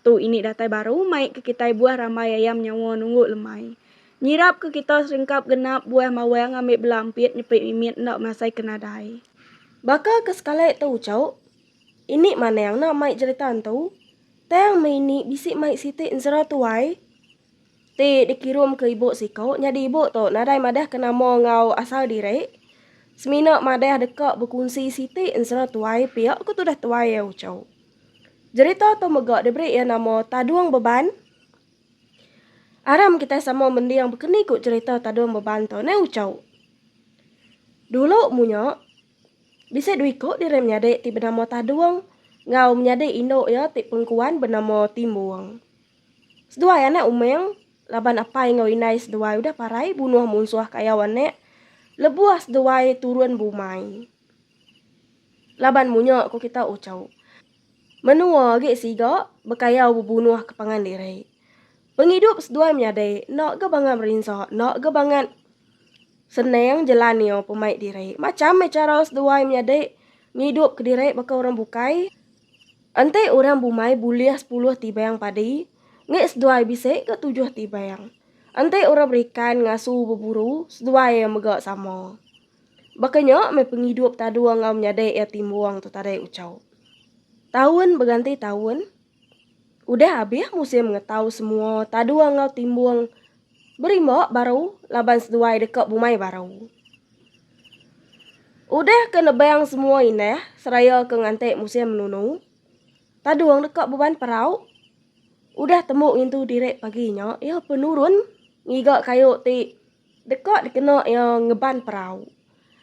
Tu ini datai baru mai ke kitai buah rambai ayam nyawa nunggu lemai. Nyirap ke kita seringkap genap buah mawang ngambi bela ampit nyepi mimit enda masai ke nadai. Baka ke sekali tu cuk. Ini manang enda mai jerita entu. Tang meh ini bisi mai siti enzera tuai. Ti dikirum ke ibu siko nyadi ibu tu nadai madah ke nama enggau asal diri. Semina madah deka bekunsi siti enzera tuai pia ke tudah tuai au cuk. Jerita tu mega diberi iya nama Tadung Beban. Aram kitai sama mending bekeni ku jerita Tadung Beban tu neh Uchau. Dulu munya, bisi dua iku diri menyadi ti benama Tadung enggau menyadi indu iya ti pengkuan benama Timbung. Seduai anak umang laban apai enggau indai seduai udah parai bunuh munsuh kayau anak lebuh seduai turun bumai. Laban munya ku kita ucau, menua agi siga bekayau bebunuh ke pangan diri. Pengidup seduai menyadi enda ga bangat merinsa, enda ga bangat senang jelan iya pemai diri. Macham meh chara seduai menyadi ngidup ke diri baka orang bukai. Enti orang bumai bulih sepuluh tibang padi, ngi seduai bisi ga tujuh tibang. Enti orang berikan ngasu beburu, seduai iya mega sama. Baka nya meh pengidup Tadua enggau menyadi iya ti embuang tu tadi ucau. Taun beganti taun, udah abih musim ngetau semua Tadua enggau Timbung berimba baru laban seduai deka bumai baru. Udah ke nebang semua indah seraya ke nganti musim menunu, Tadung deka beban perau. Udah tembu ngintu diri pagi nya, iya penurun ngiga kayu ti. Deka dikena iya ngeban perau.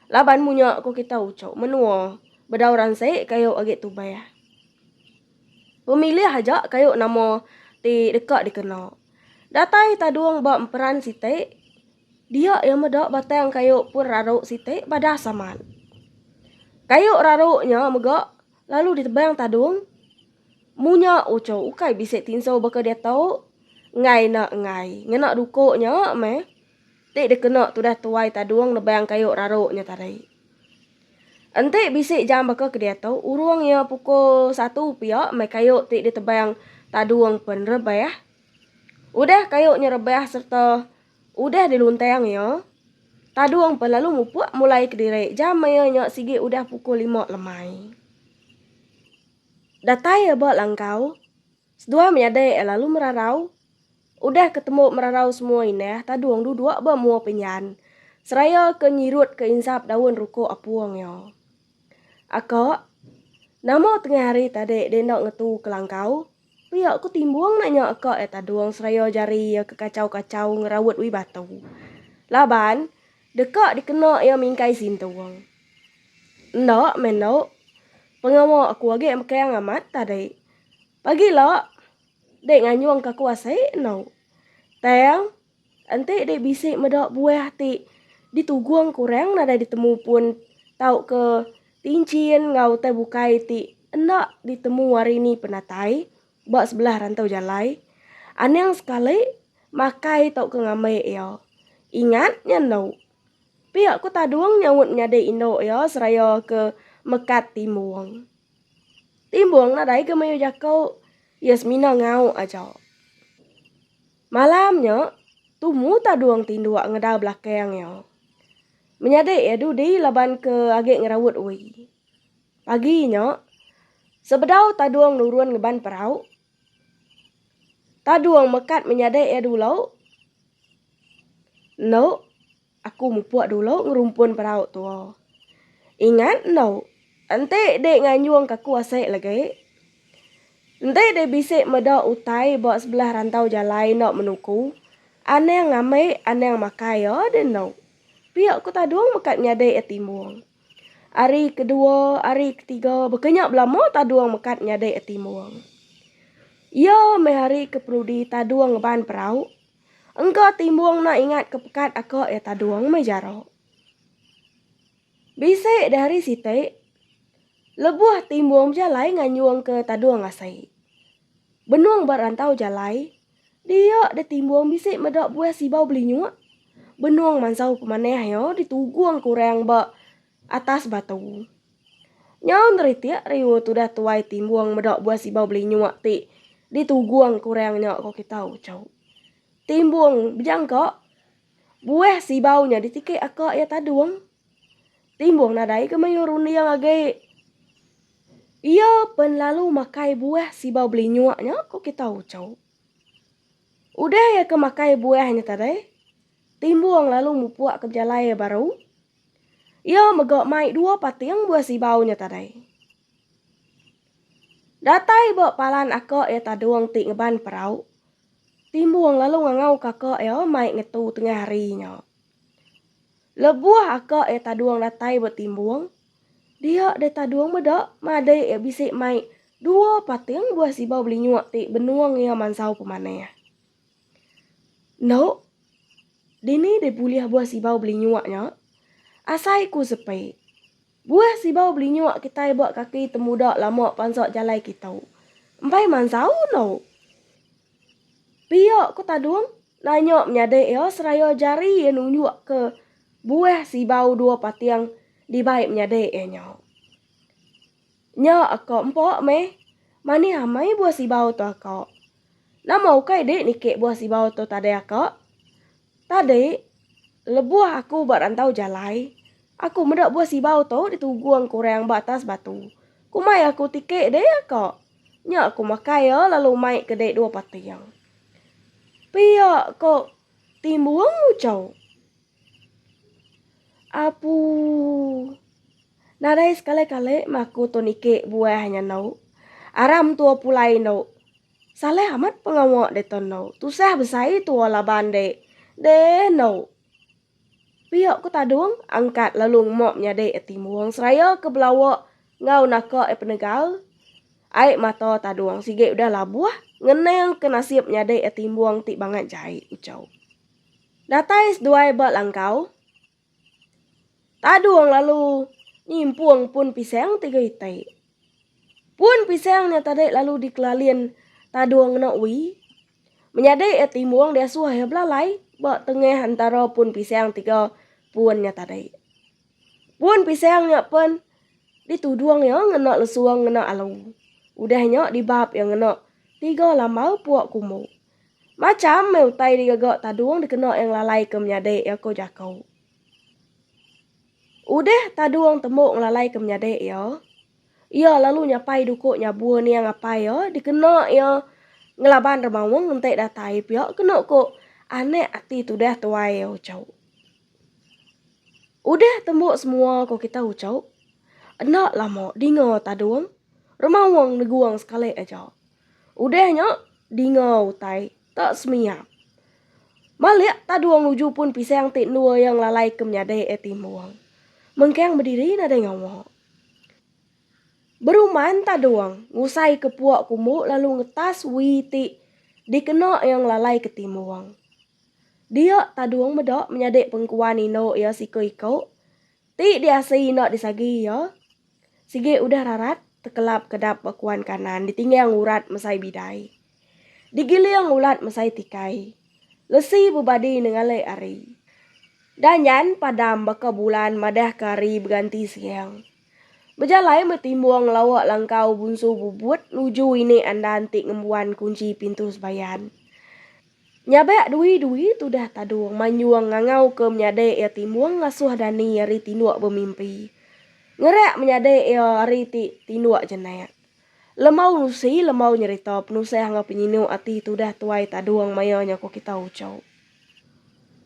Laban munya ku kita uchu menua bedau ransi kayu agi tubah. Pemilih aja kayu nama ti deka dikena. Datai Tadung ba emperan siti dia iya meda batang kayu pun raru siti badas amat. Kayu raru nya mega. Lalu ditebang tadung. Munya uchu ukai bisi tinso baka diatu. Enggai enda enggai. Ngena duko nya meh. Ti dikena tudah tuai tadung nebang kayu raru nya tadi. Enti bisi jam baka ke diatu, urung iya pukul satu pia meh kayu ti ditebang tadung pen rebah. Udah kayu nya rebah serta Udah diluntang iya, Tadung pun lalu mupuk mulai kediri jam iya nya sigi udah pukul lima lemai. Datai iya ba langkau, seduai menyadi iya lalu merarau. Udah ke tembu merarau semua indah, Tadung duduk ba mua penyan seraya ke nyirutka insap daun ruku apung iya. Aka, nama tengah hari tadi deh enda ngetu ke langkau? Pia ku Timbong nak nya ka iya tadung seraya jari iya ke kachau-kachau ngeraut wee batu. Laban, deka dikena iya mingkai Sintong. Enda meh enda, pengawa aku agi bekang amat tadi. Pagi ila dek nganjung ka aku asai enda. Tang. Enti dek bisi meda buah ti ditugung kurang nadai ditemu pun tauka tinchin enggau utai bukai ti enda ditemu hari ni penatai ba sebelah rantau jalai, anang sekali makai tauka ngambai iya. Ingat nya endo. Pia ku Tadung nyaut menyadi indu iya seraya ke mekat Timbung. Timbung nadai ga mayuh jaku, iya semina ngau aja. Malam nya, tumu Tadung tinduk ngedau belakang iya. Menyadi iya dudi laban ke agi ngeraut ui. Pagi nya, sebedau Tadung nurun ngeban perau, Tadung mekat menyadi iya dulu. Endo. Aku mupuk dulu ngerumpun perau tua. Ingat enda, enti dek nganjung ka aku asik lagi. Enti dek bisi meda utai ba sebelah rantau jalai enda menuku, anang ngambi anang makai iya deh enda. Pia ku Tadung mekat nyadi iya timbung. Hari kedua, hari ketiga baka nya belama Tadung mekat nyadi iya timbung. Iya meh hari ke perudi Tadung ngeban perau, Engka timbung enda ingat ke pekat aka iya tadung meh jara. Bisi di hari siti lebuh timbung bejalai nganyung ke tadung asi. Benung ba rantau jalai dia di timbung bisi meda buah sibau belinyuk benung mansau pemanah iya ditugungka orang ba atas batu. Nyau neritik riu tudah tuai timbung meda buah sibau belinyuk ti ditugung ke orang nya ko kita uchu. Timbung bejangka buah sibau nya ditiki aka iya tadung. Timbung nadai ke mayuh runding agi iya pen lalu makai buah sibau belinyuk nya ko kita uchu. Udah iya ke makai buah nya tadi timbung lalu mupuk ke bejalai iya baru. Iya mega mai dua pating buah sibau nya tadai. Datai ba palan aka iya Tadung ti ngeban perau, Timbung lalu ngangau kaka iya mai ngetu tengah hari nya. Lebuh aka iya Tadung datai ba Timbung, dia deh Tadung meda madik iya bisi mai dua pating buah sibau belinyuk ti benung iya mansau pemanah. Endo, dini deh bulih buah sibau belinyuk nya? Asai ku sepe, buah sibau belinyuk kitai ba kaki temuda lama pansok jalai kitu. Empai mansau endo. Pia ku Tadung nanya menyadi iya seraya jari iya nunjuk ke buah sibau dua pating dibai menyadi iya nya. Nya ako empok meh. Manih amai buah sibau tu ako. Nama ukai dik niki buah sibau tu tadi ako. Tadi lebuh aku ba rantau jalai aku meda buah sibau tu ditugung ke orang ba atas batu. Ku mai aku tiki dik ako. Nya aku makai iya lalu mai ke dik dua pating. Pia ko Timbung ucau. Apuuh. Nadai sekali-kali meh aku tu niki buah nya endo. Aram tua pulai endo. Saleh amat pengawa ditu endo. Tusah besai tua laban ende. Deh endo. Pia ku tadung angkat lalu mop nyadi iya timbung seraya ke belawa enggau naka iya penegal. Ai mata tadung sigi udah labuh ngening ke nasib nyadi iya timbung ti bangat jai, ucau. Datai seduai ba langkau. Tadung lalu nyimpung pun pisang tiga iti. Pun pisang nya tadi lalu dikelalin Tadung ngena ui. Menyadi iya timung diasuh iya belalai ba tengah entara pun pisang tiga pun nya tadi. Pun pisang nya pen ditudung iya ngena lesung ngena alu. Udah nya dibap iya ngena tiga lambau puak kumbu. Macham meh utai digaga Tadung dikena iya ngelalaika menyadi iya ko jaku. Udah Tadung tembu ngelalaika menyadi iya, iya lalu nyapai duko nyabur niang apai iya dikena iya ngelaban remaung enti datai pia kena ko anak ati tudah tuai iya uchu. Udah tembu semua ko kita uchu, enda lama dinga Tadung remaung negung sekali aja. Udah nya, dinga utai ta semiap. Malik Taduong nuju pun pisang ti endua iya ngelalai ke menyadi iya timbung. Mengkang bediri nadai ngawa. Beruman Taduong ngusai ke puak kumbu lalu ngetas wi ti dikena iya ngelalai ke timbung. Dia Taduong meda menyadi pengkuan indu iya siku-iku. Ti diasai ina disagi iya, sigi udah rarat tekelap kedap ba kuan kanan ditinggang urat mesai bidai. Digiling ulat mesai tikai. Lesi bebadi nengalik ari. Dah nyan padam baka bulan madahka ari beganti siang. Bejalai meh Timbong lawa langkau Bunsu Bubut nuju ini andan ti ngembuan kunchi pintu sebayan. Nyabak dui-dui tudah Tadung manyung ngangauka menyadi iya timbung ngasuh dani ari tinduk bemimpi. Ngerak menyadi iya ari ti tinduk jenak. Lembau nusi lembau nyerita penusah enggau penyinu ati tudah tuai Tadung maya nya ku kita uchu.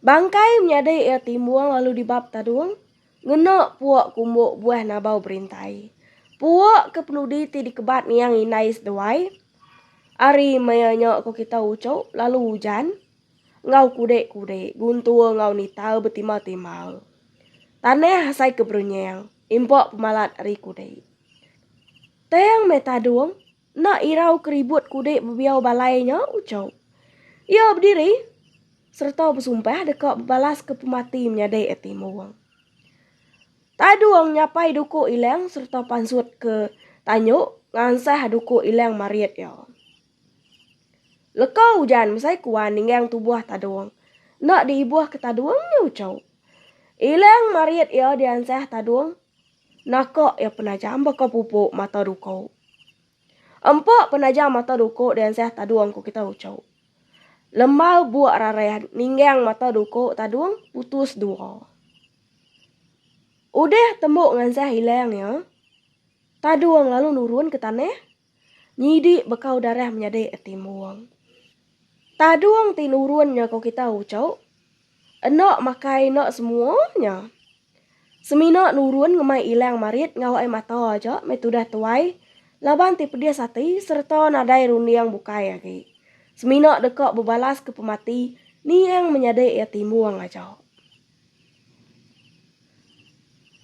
Bangkai menyadi iya timbung lalu dibab Tadung. Ngena puak kumbuk buah nabau berintai. Puak ke penudi ti dikebat niang indai seduai. Ari maya nya ko kita ucuk lalu ujan enggau kudik-kudik guntur enggau nita betimba-timba. Tanah asai ke berenyang impak pemalat ari kudik. Tang meh tadung. Enda irau keribut kudi bebiau balai nya uchau iya bediri sereta besumpah deka bebalaska pemati menyadi ati Muong. Tadung nyapai duku Ilang sereta pansut ke tanyu ngansah duku Ilang marit iya. Leka ujan mesai kuan ninggang tubuh Tadung. Enda diibuhka Tadung nya uchu. Ilang marit iya diansah Tadung. Naka iya penajam baka pupu mata duku. Empa penajam mata duku diansah tadung ku kita uchu. Lembau buk rarah ninggang mata duku tadung putus dua. Udah tembu ngansah ilang iya, tadung lalu nurun ke tanah. Nyidi bekau darah menyadi etimbung. Tadung ti nurun nya ko kita uco. Eno makai eno semua nya. Semina nurun ngemai ilang marit enggau ai mata aja meh tudah tuai laban ti pedis ati sereta nadai runding bukai agi. Semina deka bebalaska pemati niang menyadi etimbung aja.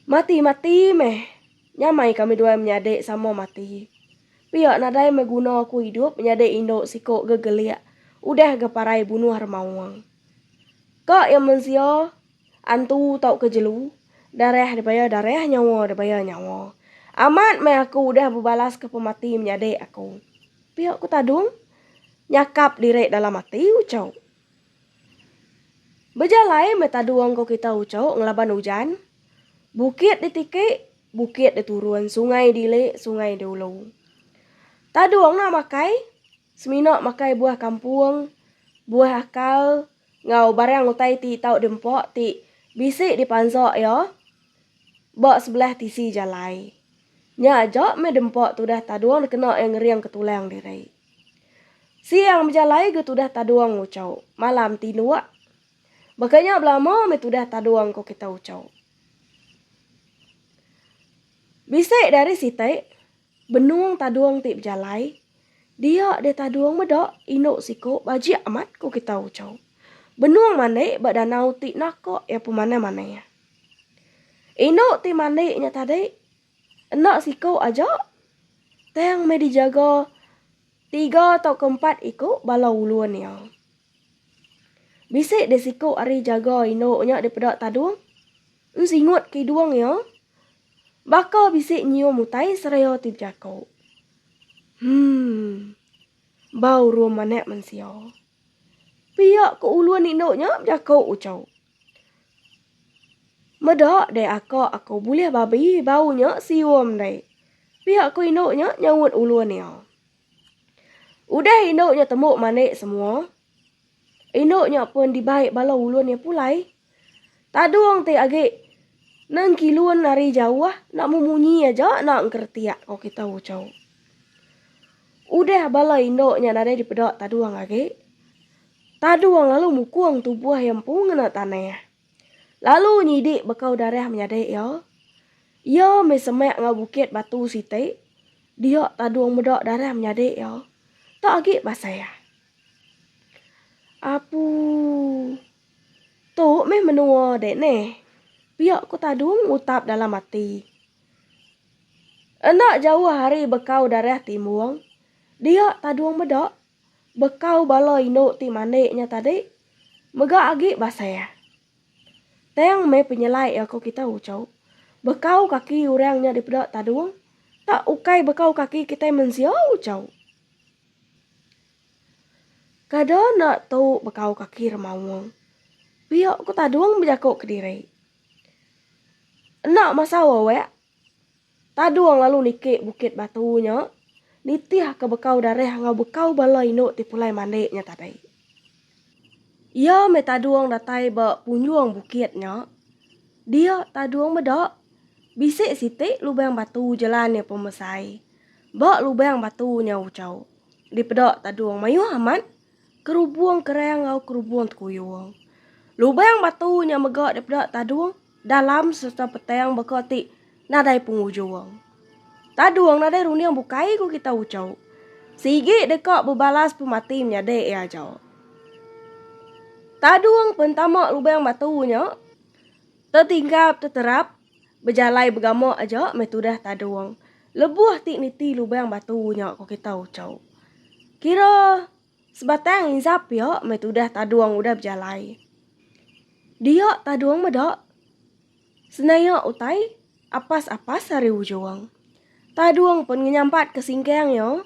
Mati mati meh. Nyamai kami duai menyadi sama mati. Pia nadai meh guna aku idup menyadi indu siko gegelik udah ga parai bunuh remaung. Ka iya mensia, antu tauka jelu, darah dibaya darah nyawa dibaya nyawa. Amat meh aku udah bebalaska pemati menyadi aku. Pia ku Tadung nyakap diri dalam ati uchau. Bejalai meh tadung engkau kita ucuk ngelaban ujan. Bukit ditiki, bukit diturun, sungai dili, sungai diulu. Tadung enda makai, semina makai buah kampung, buah akal enggau barang utai ti tau diempa ti bisi dipansa iya ba sebelah tisi jalai. Nya aja meh diempa tudah tadung dikena iya ngering ke tulang diri. Siang bejalai ga tudah tadung Uchau. Malam ti nuak. Baka nya belama meh tudah tadung ko kita Uchau. Bisi dari siti benung tadung ti bejalai dia deh tadung meda indu siko bajik amat ko kita Uchau. Benung mandi ba danau ti naka iya pemanah-manah. Indu ti mandi nya tadi Enda siku aja, tang meh dijaga tiga tauka empat iku bala ulun iya. Bisi deh siku ari jaga indu nya dipeda Tadung ensingut kidung iya baka bisi nyium utai seraya ti bejaku. Hum. Bau rum anak mensia. Pia ku ulun indu nya bejaku uchu. Meda deh aka aku bulih babi bau nya sium deh. Pia ku indu nya nyaut ulun iya. Udah indu nya tembu mandi semua, indu nya pun dibai bala ulun iya pulai. Tadung ti agi nengkilun ari jauh enda memunyi aja enda engkeretik ko kita uchu. Udah bala indu nya nadai dipeda tadung agi. Tadu wang lalu mukung tubuh iya empu ngena tanah, lalu nyidi bekau darah menyadi iya. Iya meh semak enggau bukit batu siti, dia tadu wang meda darah menyadi iya. Tok agi pasal. Apu. Tu meh menua dek neh. Pia ku tadu ngutap dalam ati. Enda jauh ari bekau darah timbung, dia tadu wang meda bekau bala indu ti mandi nya tadi mega agi basah. Tang meh penyelai aku kita uchu, bekau kaki orang nya dipeda tadung tak ukai bekau kaki kitai mensia uchu. Kada enda tu bekau kaki remaung, pia ku tadung bejaku kediri. Enda masau awak. Tadung lalu niki bukit batu nya nitihka bekau darah enggau bekau bala indu ti pulai mandi nya tadi. Iya meh tadung datai ba punjung bukit nya. Dia tadung meda, bisi siti lubang batu jelan iya pemesai. Ba lubang batu nya uchu dipeda tadung mayuh amat kerubung kerang enggau kerubung tekuyung. Lubang batu nya mega dipeda tadung dalam sereta petang baka ti nadai pengujung. Tadung nadai runding bukai ku kita ucau. Sigi deka bebalas pemati menyadi iya ajau. Tadung pentama lubang batu nya tetinggap teterap bejalai begama aja meh tudah tadung lebuh ti niti lubang batu nya ku kita ucau. Kira Sebatang inzap pia meh tudah Tadung udah bejalai. Dia Tadung meda senaya utai apas-apas ari ujung. Tadung pun ngenyampat ke singkang iya.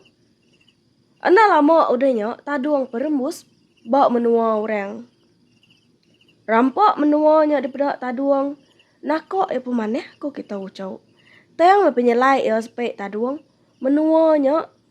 Enda lama udah nya Tadung perembus ba menua orang. Rampa menua nya dipeda Tadung naka iya pemanah ku kitai uchu. Tang meh penyelai iya sepe Tadung, menua nya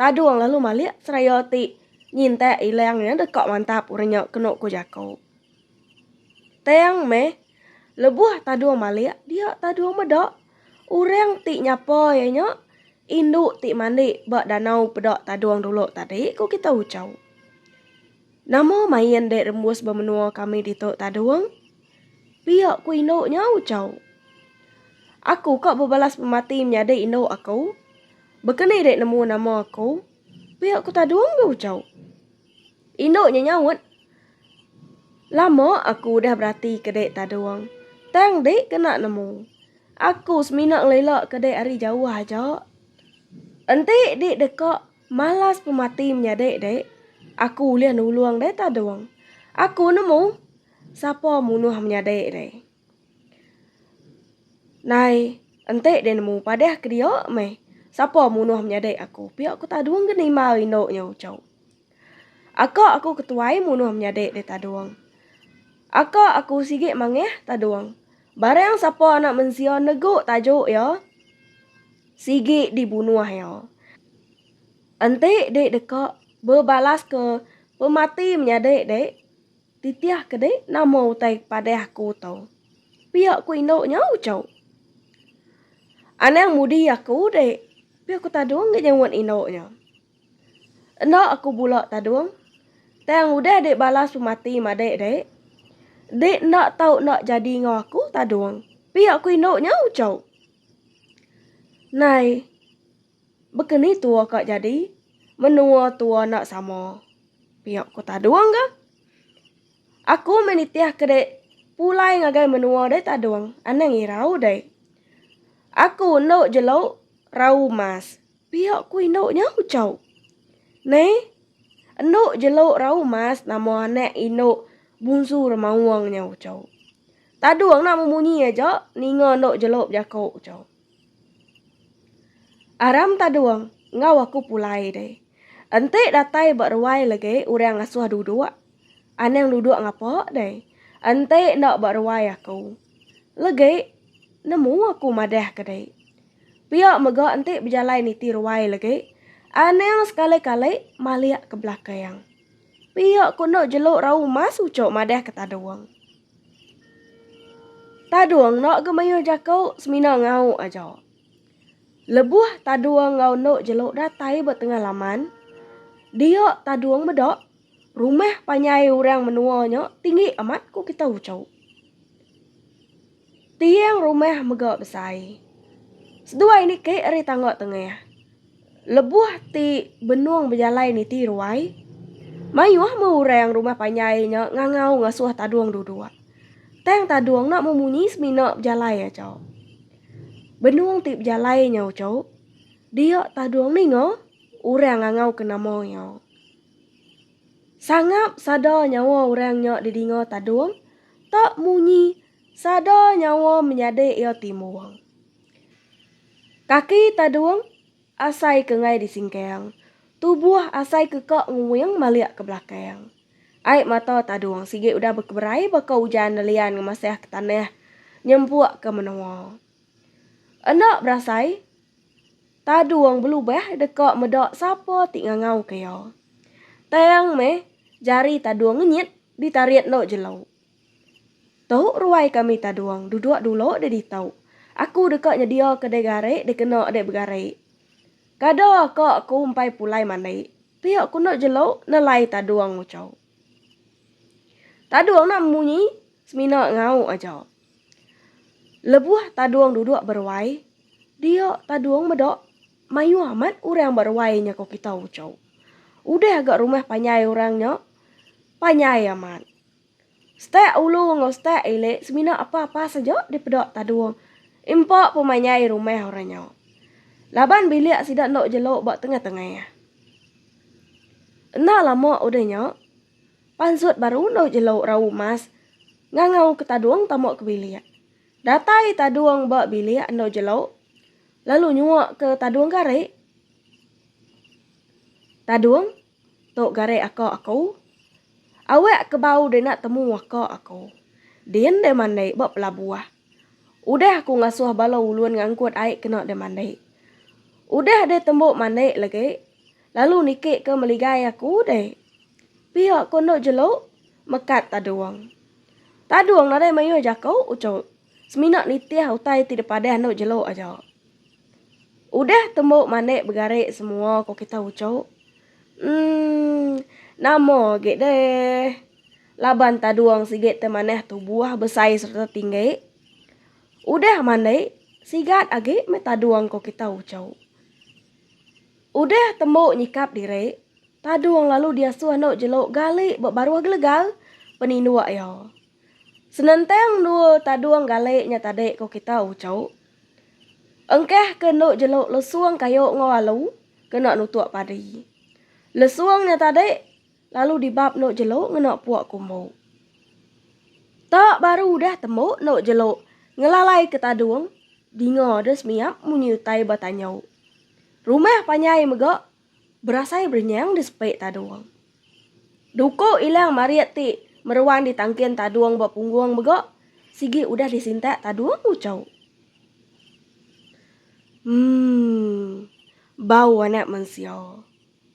Tadung lalu malik seraya ti nyintak ilang nya deka mantap orang nya kenu ku jaku. Tang meh lebuh Tadung malik dia Tadung meda orang ti nyapa iya nya indu ti mandi ba danau peda Tadung dulu tadi ku kitai uchu. Nama main dek rembus ba menua kami ditu Tadung? Pia ku indu nya ucau. Aku ka bebalas pemati menyadi indu aku. Bekeni dek nemu nama aku. Pia ku Tadung ga ucau. Indu nya nyaut, Lama aku udah berati ke dek Tadung. Tang dek kena nemu. Aku semina ngelila ke dek ari jauh aja. Enti dek deka malas pemati menyadi dek, aku ulih nulung dek Tadung. Aku nemu. Sapa munuh menyadi deh. Nai enti deh nemu padeh ke dia meh sapa munuh menyadi aku pia ku tadung ke nima rindu nya ucau. Aka aku ke tuai munuh menyadi deh tadung. Aka aku sigi mangeh tadung barang sapa anak mensia negu tajuk iya sigi dibunuh iya. Enti deh deka bebalaska pemati menyadi deh. Titih ke dek nama utai padah aku tu. Pia ku indu nya uchu. Anang mudi aku dek, pia ku Tadung ngi nyewut indu nya. Enda aku bula Tadung, tang udah dek balas pemati madik dek. Dek enda tau enda jadi enggau aku Tadung, pia ku indu nya uchu. Nai. Baka ni tua ka jadi, menua tua enda sama. Pia ku Tadung ga. Aku meh nitih ke dek pulai ngagai menua deh Tadung, anang irau dek. Aku endo jelo rau mas, pia ku indu nya ucau. Neh, endo jelo rau mas nama anak indu bungsu Remaung nya ucau. Tadung enda memunyi aja ninga endo jelo bejako ucau. Aram Tadung enggau aku pulai deh. Enti datai ba ruai legi orang ngasuh duduk. Anang duduk ngapa deh. Enti enda ba ruai aku. Legi nemu aku madah ke deh. Pia mega enti bejalai niti ruai legi. Anang sekali-kali malik ke belakang. Pia ku enda jelu rau mas uchu madah ke Tadung. Tadung enda ga mayuh jaku semina ngauk aja. Lebuh tadung enggau endu jelu datai ba tengah laman, dia tadung meda rumah panjai orang menua nya tinggi amat ku kita uchu. Tiang rumah mega besai. Seduai niki ari tangga tengah, Lebuh ti benung bejalai niti ruai, mayuh meh orang rumah panjai nya ngangau ngasuh tadung duduk. Tang tadung enda meh munyi semina bejalai aja. Benung ti bejalai nya uchu, dia tadung ninga orang ngangau ke nama iya. Sangap sada nyawa orang nya didinga tadung tak munyi sada nyawa menyadi iya timung. Kaki tadung asai ke ngai di singkang, tubuh asai ke ka nguing malik ke belakang. Ai mata tadung sigi udah bekeberai baka ujan nelian ngemasah ke tanah nyempuk ke menoa. Enda berasai, tadung belubah deka meda sapa ti ngangau ke iya. Tang meh jari tadung ngenyit ditarit enda jelu. Tu ruai kami Tadung duduk dulu deh ditu. Aku deka nyedia ke deh gari deh kena deh begari. Kada ka aku empai pulai mandi. Pia ku enda jelu nelai Tadung nguchu. Tadung enda munyi semina ngau aja. Lebuh Tadung duduk beruai, dia Tadung meda mayuh amat orang ba ruai nya ku kita uchu. Udah ga rumah panjai orang nya, panjai amat. Stek ulu enggau stek ili semina apa-apa saja dipeda Tadung. Impa pun mai nyai rumah orang nya. Laban bilik sida enda jelu ba tengah-tengah. Enda lama udah nya, pansut baru enda jelu rau mas ngangauka Tadung tama ke bilik. Datai Tadung ba bilik enda jelu lalu nyuaka Tadung gari. Tadung. Tu gari aka aku. Awak ke bau deh nak temu aka aku. Din deh mandi ba pelabuh. Udah aku ngasuh bala ulun ngangkut ai kena deh mandi. Udah deh tembu mandi lagi, lalu niki ke meligai aku deh. Pia ko enda jelu, mekat Tadung. Tadung nadai mayuh jaku ucut. Semina nitih utai ti dipadah endo jelu aja. Udah tembu manik begari semua ko kita uchu. Emm nama agi deh laban tadung sigi ti manah tubuh besai serta tinggi. Udah mandi sigat agi meh tadung ko kita uchu. Udah tembu nyikap diri tadung lalu diasuh endo jelu gali ba baruh gelegar peninduk iya. Senentang dua tadung gali nya tadi ku kita uchu. Engkah ke enda jelu lesung kayu enggau alu kena nutuk padi. Lesung nya tadi lalu dibab enda jelu ngena puk kumbu. Tak baru udah tembu enda jelu ngelalaika tadung dinga deh semiap munyi utai ba tanyu. Rumah panjai mega Berasai berenyang di sepi tadung. Duku ilang marit ti meruan di tangkin tadung ba punggung mega sigi udah disintak tadung ucau. Mmm. Bau anak mensia.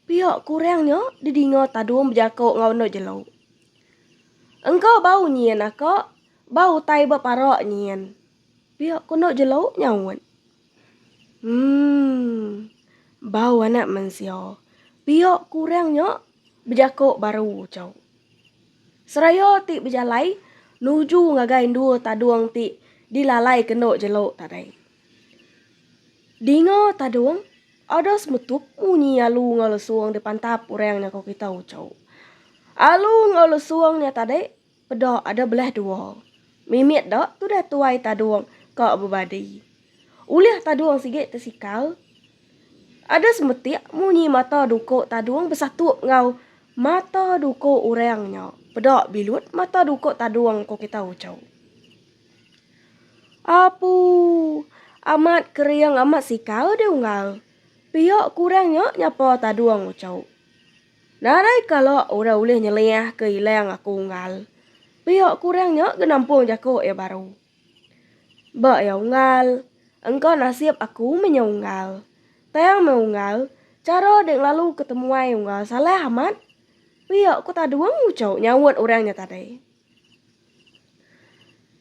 Pia kurang nya didinga tadung bejaku enggau enda jelu. Engka bau nyin aka, bau utai ba parak nyin. Pia ku enda jelu nyaut. Umm. Bau anak mensia. Pia ku orang nya bejako baru chau. Seraya ti bejalai nuju ngagai endua tadung ti dilalai kendo jelo tadai. Dinga tadung ada semetup munyi alu enggau lesung dipantap orang nya ko kita chau. Alu enggau lesung nya tadi Peda ada belah dua. Mimit da tudah tuai tadung ka bebadi. Ulih tadung sigi tesikal. Ada semetik munyi mata duko tadung besatup enggau mata duko orang nya peda bilut mata duko tadung ko kita uchu. Apuu amat kering amat sikal deh unggal. Pia kurang nya nyapa tadung uchu. Nadai kala orang ulih nyeliah ke ilang aku unggal. Pia kurang nya genampung jaku iya baru. Ba iya unggal, engka nasib aku menyau unggal. Tang meh unggal, chara dek ngelalu ke temuai unggal salah amat. Pia ku Tadung uchu nyaut orang nya tadi.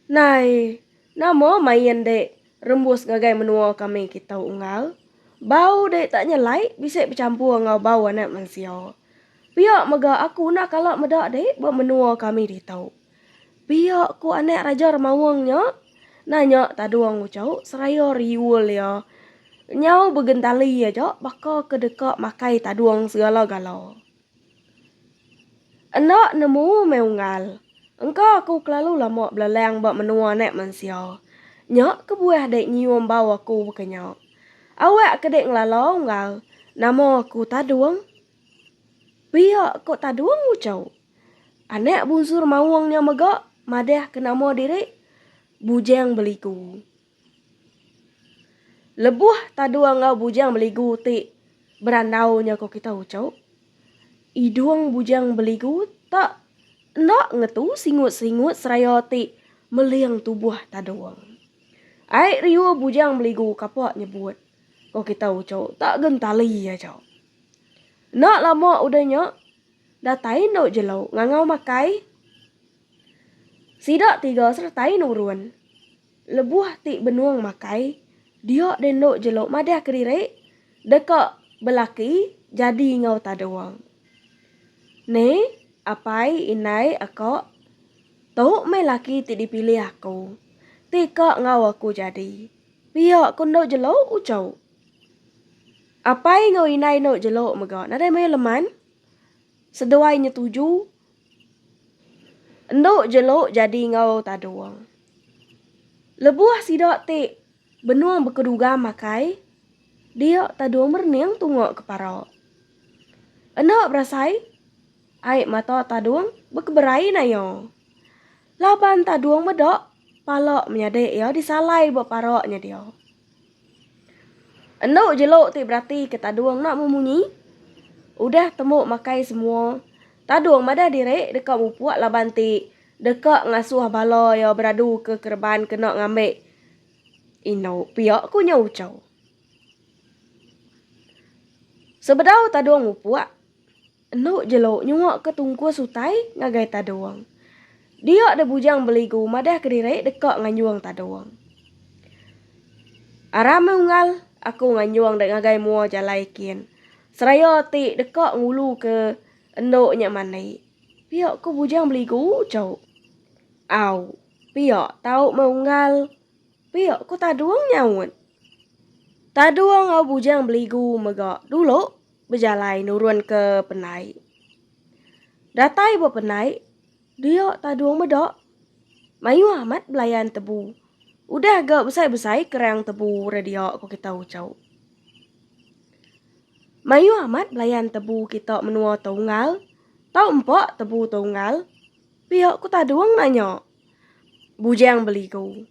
Nai, nama main dek rembus ngagai menua kami kitu unggal. Bau dek tak nyelai bisi becampur enggau bau anak mensia. Pia mega aku enda kala meda dek ba menua kami ditu. Pia ku anak Raja Remaung nya. Nanya Tadung uchu seraya riul iya nyau begentali aja baka ke deka makai Tadung segala gala. Enda nemu meh unggal. Engka aku kelalu lama belelang ba menua anak mensia. Nya kebuah dek nyium bau aku baka nya. Awak ke dek ngelala unggal nama aku Tadung. Pia ko Tadung ucau. Anak bunsur Maung nya mega madah ke nama diri Bujang Beliku. Lebuh Tadung enggau Bujang Beligu ti berandau nya ko kita uchu, idung Bujang Beligu ta enda ngetu singut-singut seraya ti meling tubuh Tadung. Ai riuh Bujang Beligu kapa nyebut ko kita uchu ta gentali aja. Enda lama udah nya, datai endu jelu ngangau makai sida tiga seretai nurun. Lebuh ti benung makai, dia deh endo jelo madah kediri deka belaki jadi enggau tadung. Ni, apai indai aka, tu meh laki ti dipilih aku, ti ka enggau aku jadi. Pia ku endo jelo uco. Apai enggau indai endo jelo mega nadai mayuh leman. Seduai nyetuju, endo jelo jadi enggau Tadong. Lebuh sida ti benung bekeduga makai, dia Tadong merening tunga ke para. Enda berasai, ai mata Tadong bekeberai naya. Laban Tadong meda pala menyadi iya disalai ba para nya dia. Enu jelu ti beratika Tadung enda memunyi. Udah temu makai semua, Tadung madah diri deka mupuk laban ti deka ngasuh bala iya beraduka kereban kena ngambi indu pia, ku nya Uchau. Sebedau Tadung mupuk. Enu jelu nyuaka tungkus utai ngagai Tadung. Dia deh bujang beligu madah kediri deka nganjung Tadung. Aram meh unggal aku nganjung deh ngagai mua jalai kin. Seraya ti deka ngulu ke endu nya mandi. Pia ku bujang beligu uchu. Au. Pia tau meh unggal. Pia ku Tadung nyaut. Tadung au bujang beligu mega dulu Bejalai nurunka penai. Datai ba penai, dia tadung meda. Mayuh amat belayan tebu. Udah ga besai-besai kerang tebu ra dia ko kita Ucho. Mayuh amat belayan tebu kita menua tu Unggal. Tau empa tebu tu Unggal? pia ko tadung nanya Bujang Beligu.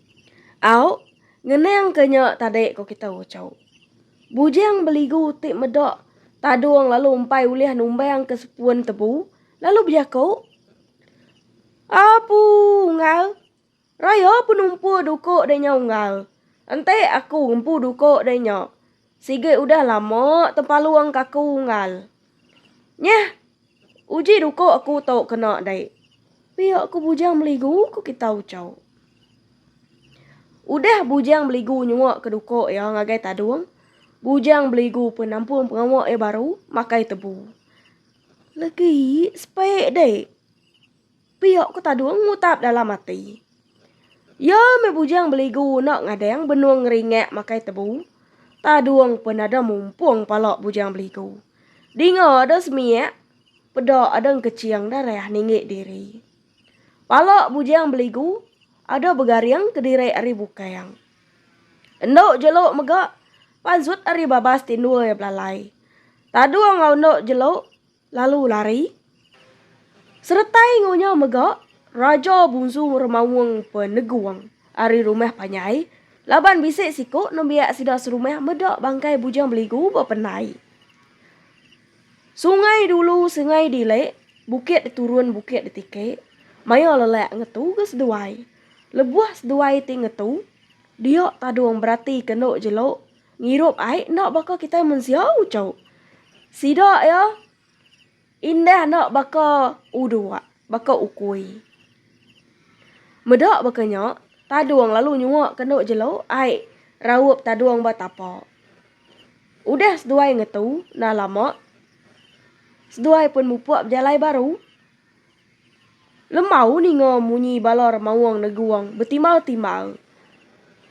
Au, ngenangka nya tadi ko kita ucau. Bujang beligu ti meda tadung lalu empai ulih numbang ke sepun tebu lalu bejaku, Apu unggal, raya penumpu duko deh nya unggal. Enti aku ngempu duko deh nya. Sigi udah lama tempalung ke aku unggal. Nyeh! Uji duka aku tu kena dai. Pia ku bujang beligu ku kita Ucho. Udah bujang beligu nyua ke duka iya ngagai Tadung, bujang beligu pun nampung pengawa iya baru makai tebu. Legi sepai dai. Pia ku Tadung ngutap dalam ati. Iya meh bujang beligu enda ngadang benung ngeringak makai tebu. Tadung pun ada mumpung pala bujang beligu. Dinga ada semiak, peda ada engkeching darah ninggi diri. Pala bujang beligu ada begaring kediri ari bukang. Endu jelu mega pansut ari babas tindul iya belalai. Tadung enggau endu jelu lalu lari. Seretai enggau nya mega, Raja Bunsu Remaung pun negung ari rumah panjai laban bisi siku nembiak sida serumah meda bangkai Bujang Beligu bependai. Sungai dulu sengai dile, bukit diturun bukit ditike, maya lelak ngetu ke seduai, lebuh seduai ti ngetu, dia tadung beratika endo jelo Ngirup ai enda baka kitai mensia ucau. Sida iya indah enda baka uduak, baka ukui. Meda baka nya, tadung lalu nyuak kenu jelu ai raup tadung ba tapa. Udah seduai ngetu nah lama, seduai pun mupuk bejalai baru. Lembau ninga munyi balar mauang neguang betimbal-timbal.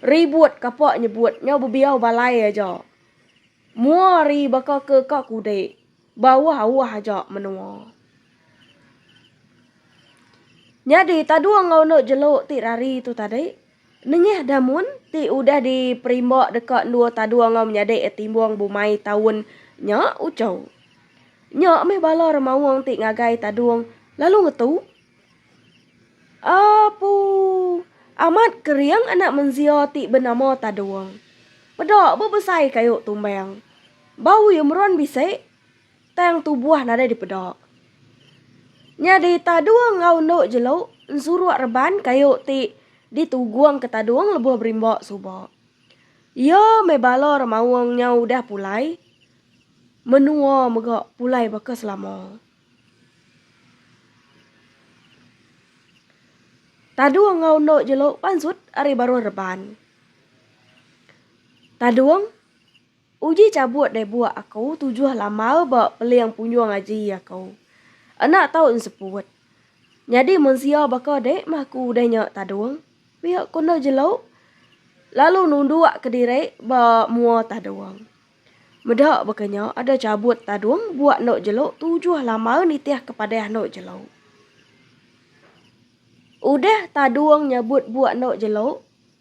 Ribut kapa nyebut nyau bebiau balai aja. Mua ari baka ke ka kudik, bauh-auh aja menua. Nyadi tadung enggau enda jelu ti rari tu tadi. Nengah damun ti udah diperimba deka endur tadung enggau menyadi timbung bumai taun nya uchu. Nya meh bala remaung ti ngagai tadung lalu ngetu. Apu amat kering anak menzia ti benama Tadung. Peda bebesai kayu tumbang. Bau iya meran bisi. Tang tubuh nadai dipeda. Nya di tadung enggau endu jelu ensuruk reban kayu ti ditugung ke tadung lebuh berimba suba. Iya meh bala remaung nya udah pulai menua mega pulai baka selama. Tadung enggau endu jelu pansut ari baruh reban. Tadung. Uji chabut deh buak aku tujuh lamau ba peling punyung aji aku. Anak taun seput. Nyadi mensia baka dek mah ku udah nya tadung. Pia ku enda jelu. Lalu nunduk ke diri ba mua tadung. Meda baka nya ada chabut tadung buak enda jelu tujuh lamau nitih ke padah enda jelu. Udah tadung nyabut buak enda jelu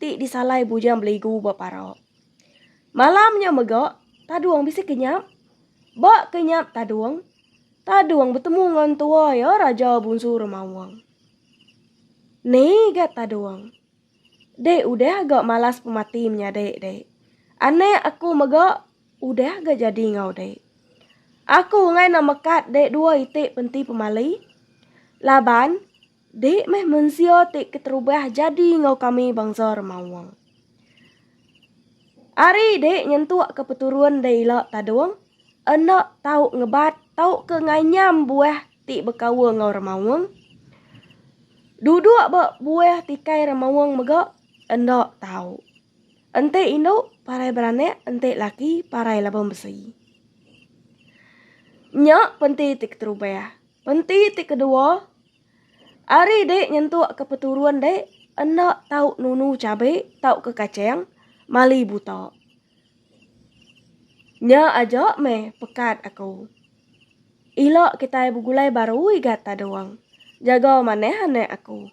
ti disalai Bujang Beligu ba Parok. Malam nya mega, Tadung bisi kenyap. Ba kenyap Tadung, Tadung betemu ngan tua iya Raja Bunsu Remaung. Ni ga Tadung. Dek udah ga malas pemati menyadi, Dek. Anak aku mega udah ga jadi enggau Dek. Aku enggai nak mekat Dek dua iti penti pemali laban Dei meh mensia ti keterubah jadi enggau kami bangsa Remawang. Ari dei nyentuk ke peturun dei ila Tadong, enda tau ngebat tauka nganyam buah ti bekaul enggau Remawang. Duduk ba buah tikai Remawang mega enda tau. Enti indu parai beranak enti laki parai laban besi. Nya penti ti keterubah. Penti ti kedua, ari dek nyentuk ke peturun dek enda tau nunu cabe tauka kaceng mali buta. Nya aja meh pekat aku. Ila kitai begulai baru igat tadung. Jaga manah anak aku.